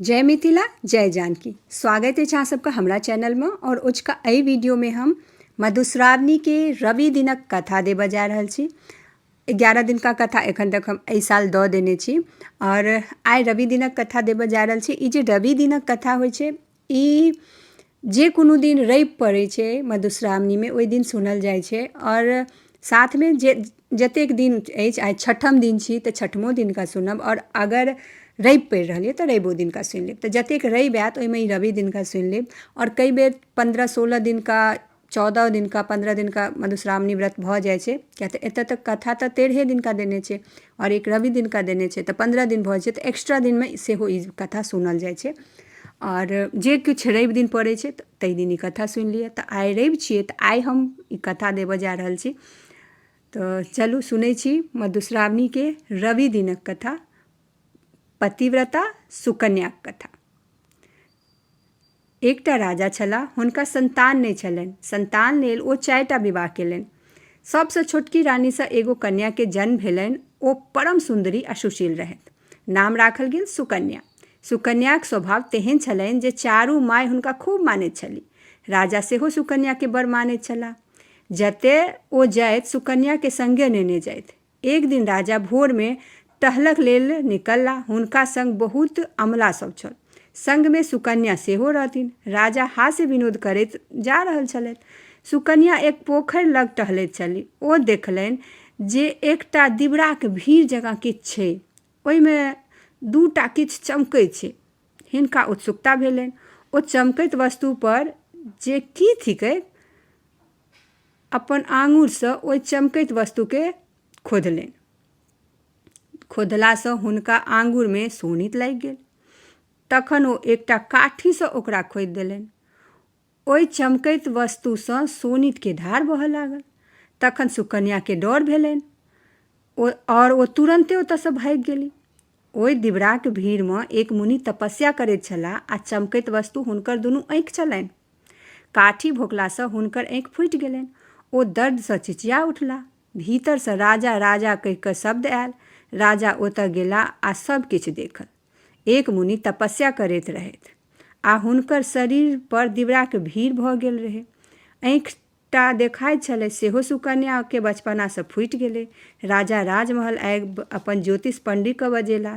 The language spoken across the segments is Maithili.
जय मिथिला जय जानकी स्वागत अछि अहाँ सबके हमरा चैनलमे आओर ओझका एहि वीडियोमे हम मधुश्रावणीके रवि दिनक कथा देबऽ जा रहल छी एगारह दिनका कथा एखन तक हम एहि साल दऽ देने छी आओर आइ रवि दिनक कथा देबऽ जा रहल छी ई जे रवि दिनक कथा होइ छै ई जे कोनो दिन रवि पड़ै छै मधुश्रावणीमे ओहि दिन सुनल जाइ छै आओर साथमे जे जतेक दिन अछि आइ छठम दिन छी तऽ छठमो दिनका सुनब आओर अगर रवि पड़ि रहल यऽ तऽ रविओ दिनका सुनि लेब तऽ जतेक रवि आएत ओहिमे ई रवि दिनका सुनि लेब आओर कएक बेर पनरह सोलह दिनका चौदह दिनका पन्द्रह दिनका मधुश्रावणी व्रत भऽ जाइ छै किएक तऽ एतऽ तऽ कथा तऽ तेरहे दिनका देने छै आओर एक रवि दिनका देने छै तऽ पन्द्रह दिन भऽ जाइ छै तऽ एक्स्ट्रा दिनमे सेहो ई कथा सुनल जाइ छै आओर जे किछु रवि दिन पड़ै छै तऽ तै दिन ई कथा सुनि लिऽ तऽ आइ रवि छियै तऽ आइ हम ई कथा देबऽ जा रहल छी तऽ चलू सुनै छी मधुश्रावणीके रवि दिनक कथा पतिव्रता सुकन्याक कथा एकटा राजा छलाह। हुनका संतान नहि छलनि। संतान लेल ओ चारिटा विवाह केलनि। सभसँ छोटकी रानीसँ एगो कन्याके जन्म भेलनि। ओ परम सुन्दरी आ सुशील रहथि। नाम राखल गेल सुकन्या। सुकन्याक स्वभाव तेहेन छलनि जे चारू माय हुनका खूब मानैत छलि। राजा सेहो सुकन्याके बड़ मानैत छलाह। जतए ओ जाइथ सुकन्याके संगे नेने जाइथ। एक दिन राजा भोर में टहलक लेल निकलला। हुनका संग बहुत अमला सब छल। संग में सुकन्या सेहो रहथिन। राजा हास्य विनोद करैत जा रहल छलथि। सुकन्या एक पोखरि लग टहलैत छलि। ओ देखलनि जे एकटा दिबराक भीड़ जकाँ किछु छै। ओहि में दूटा किछु चमकै छै। हिनका उत्सुकता भेलनि। ओ चमकैत वस्तु पर जे की थिकैक अपन आङुरसँ ओहि चमकैत वस्तुके खोधलनि खोधलासँ हुनका आङुरमे सोनित लागि गेल तखन ओ एकटा काठीसँ ओकरा खोदि देलनि ओहि चमकैत वस्तुसँ सोनितके धार बहऽ लागल तखन सुकन्याके डर भेलनि ओ आओर ओ तुरन्ते ओतऽसँ भागि गेली ओइ दिबराक भीड़ मे एक मुनि तपस्या करैत छलाह आ चमकैत वस्तु हुनकर दुनू आँखि छलनि। काठी भोंकला सँ हुनकर आँखि फूटि गेलनि। ओ दर्द सँ चिचिया उठलाह। भीतर सँ राजा, राजा कहि क शब्द आयल। राजा ओतय गेलाह आ सभ किछु देखल। एक मुनि तपस्या करैत रहथि आ हुनकर शरीर पर दिबराक भीड़ भ गेल रहै। आँखि। टा देखाइत छलै सेहो सुकन्या केँ बचपना सँ फूटि गेलै। राजा राजमहल आबि अपन ज्योतिष पंडी केँ बजेला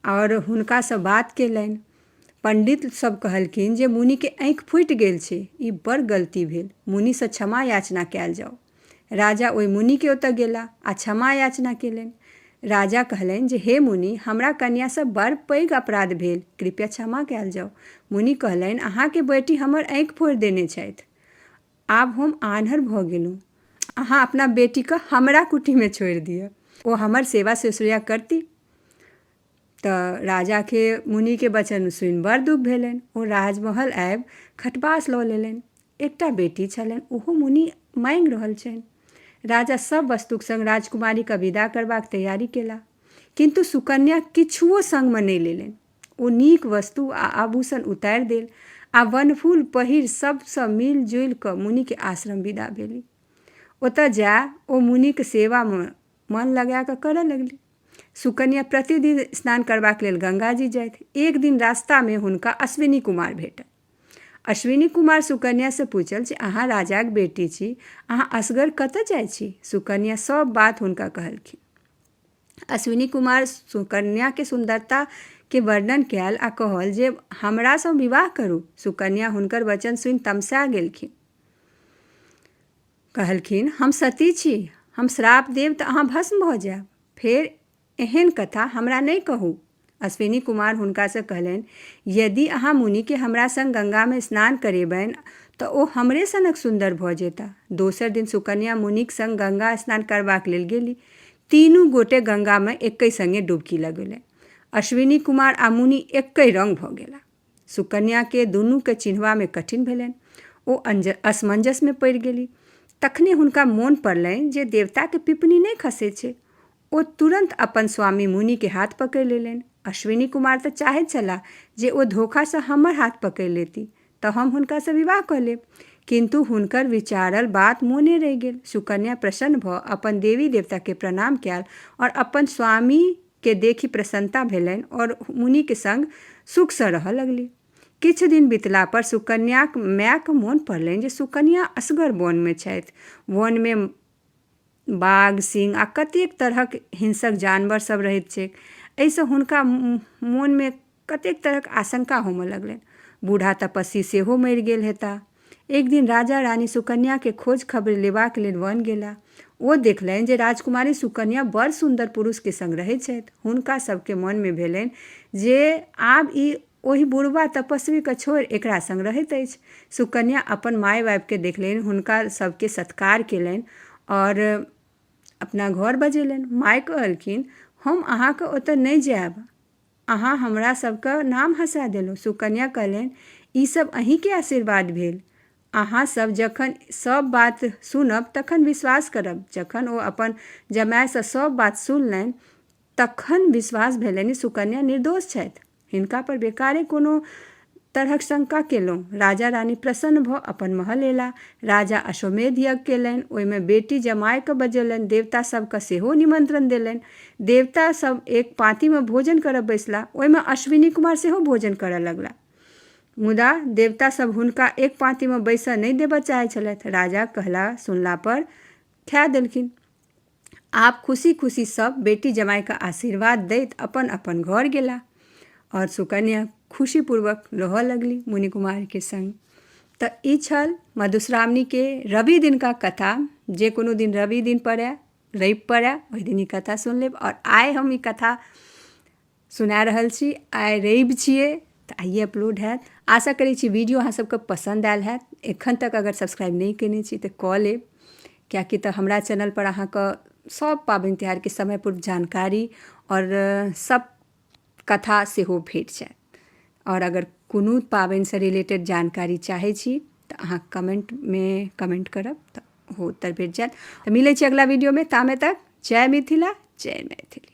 आओर हुनका सँ बात केलनि। पंडित सभ कहलखिन जे मुनि केँ आँखि फूटि गेल छै। ई बड़ गलती भेल। मुनि सँ क्षमा याचना कयल जाउ। राजा ओहि मुनि केँ ओतय गेला आ क्षमा याचना केलनि। राजा कहलनि जे हे मुनि हमरा कन्या सँ बड़ पैघ अपराध भेल। कृपया क्षमा कयल जाउ। मुनि कहलनि अहाँ केँ बेटी हमर आँखि फोड़ि देने छथि। आब हम आन्हर भऽ गेलहुँ अहाँ अपना बेटीके हमरा कुटीमे छोड़ि दिअ ओ हमर सेवा शुश्रूषा करती तऽ राजाके मुनिके वचन सुनि बड़ दुख भेलनि ओ राजमहल आबि खटबास लऽ लेलनि एकटा बेटी छलनि ओहो मुनि माँगि रहल छनि राजा सब वस्तुक संग राजकुमारीके विदा करबाक तैयारी केला किन्तु सुकन्या किछुओ संगमे नहि लेलनि ओ नीक वस्तु आ आभूषण उतारि देल आ वनफूल पहिर सभसँ मिल जुलि कऽ मुनिक आश्रम विदा भेली ओतय जा ओ मुनिक सेवामे मन लगा कऽ करय लगली सुकन्या प्रतिदिन स्नान करबाक लेल गंगाजी जाथि एक दिन रास्तामे हुनका अश्विनी कुमार भेटल अश्विनी कुमार सुकन्यासँ पूछल जे अहाँ राजाक बेटी छी अहाँ असगर कतय जाइत छी सुकन्या सभ बात हुनका कहलखिन अश्विनी कुमार सुकन्याके सुन्दरताके वर्णन कयल आ कहल जे हमरासँ विवाह करू सुकन्या हुनकर वचन सुनि तमसा गेलखिन कहलखिन हम सती छी हम श्राप देब तऽ अहाँ भस्म भऽ जायब फेर एहन कथा हमरा नहि कहू अश्विनी कुमार हुनका सँ कहलनि, यदि अहाँ मुनि केँ हमरा संग गंगा मे स्नान करेबनि त ओ हमरे सनक सुन्दर भ जेताह। दोसर दिन सुकन्या मुनिक संग गंगा स्नान करबाक लेल गेली। तीनू गोटे गंगा मे एकहि संगे डुबकी लगेलनि। अश्विनी कुमार आ मुनि एकहि रंग भ गेलाह। सुकन्या केँ दुनू केँ चिन्हबा मे कठिन भेलनि। ओ असमंजस मे पड़ि गेली। तखने हुनका मोन पड़लनि जे देवता केँ पिपनी नहि खसैत छै। ओ तुरन्त अपन स्वामी मुनि के हाथ पकड़ि लेलनि। अश्विनी कुमार त चाहैत छलाह जे ओ धोखा सँ हमर हाथ पकड़ि लेती त हम हुनका सँ विवाह क लेब। किन्तु हुनकर विचारल बात मोने रहि गेल। सुकन्या प्रसन्न भ अपन देवी-देवता के प्रणाम कयल और अपन स्वामी के देखि प्रसन्नता भेलनि और मुनि के संग सुख सँ रहय लगली। किछु दिन बितला पर सुकन्याक माय क मोन पड़लनि जे सुकन्या असगर वन मे छथि। वन मे। बाघ सिंह आ कतेक तरहक हिंसक जानवर सब रहैत छैक एहिसँ हुनका मोनमे कतेक तरहक आशंका होमऽ लगलनि बूढ़ा तपस्वी सेहो मरि गेल हेता एक दिन राजा रानी सुकन्या के खोज खबरि लेबाक लेल वन गेला ओ देखलनि जे राजकुमारी सुकन्या बड़ सुन्दर पुरुष के संग रहैत छथि हुनका सबके मन मे भेलनि जे आब ई ओहि बुढ़बा तपस्वी कऽ छोड़ि एकरा संग रहैत अछि। सुकन्या अपन माय-बाप केँ देखलनि, हुनका सभ केँ सत्कार केलनि आओर अपना घर बजेलनि। माय कहलखिन, हम अहाँ कऽ ओतय नहि जायब। अहाँ हमरा सभ कऽ नाम हँसा देलहुँ। सुकन्या कहलनि, ई सभ अहीं केँ आशीर्वाद भेल। अहाँ सभ जखन सभ बात सुनब तखन विश्वास करब। जखन ओ अपन जमाय सँ सभ बात सुनलनि तखन विश्वास भेलनि सुकन्या निर्दोष छथि। हिनका पर बेकारे कोनो तरहक शंका केलहुँ राजा रानी प्रसन्न भऽ अपन महल एला राजा अश्वमेध यज्ञ केलनि ओहिमे बेटी जमायकेँ बजेलनि देवता सभकेँ सेहो निमंत्रण देलनि देवता सभ एक पाँतीमे भोजन करय बैसला ओहिमे अश्विनी कुमार सेहो भोजन करय लगला मुदा देवता सभ हुनका एक पाँतीमे बैसय नहि देबय चाहैत छलथि राजा कहला सुनला पर खाए देलखिन आब खुशी खुशी सब बेटी जमाई के आशीर्वाद दैत अपन अपन घर गेला और सुकन्या खुशी पूर्वक रहऽ लगली मुनि कुमार के संग तऽ ई छल मधुश्रावणी के रवि दिन का कथा जे कोनो दिन रवि दिन पड़े रवि पड़े ओहि दिन ई कथा सुन लेब और आइ हम ई कथा सुना रहल छी आइ रवि छियै तऽ आइए अपलोड हैत आशा करै छी वीडियो अहाँ सबके पसन्द आयल हैत एखन तक अगर सब्सक्राइब नहि केने छी तऽ कऽ लेब किएकि तऽ हमरा चैनलपर अहाँके सब पाबनि तिहारके समय पूर्व जानकारी आओर सब कथा सेहो भेट जायत आओर अगर कोनो पाबनिसँ रिलेटेड जानकारी चाहै छी तऽ अहाँ कमेंटमे कमेंट करब तऽ ओहो उत्तर भेट जायत तऽ मिलै छी अगिला वीडियोमे तामे तक जय मिथिला जय मैथिली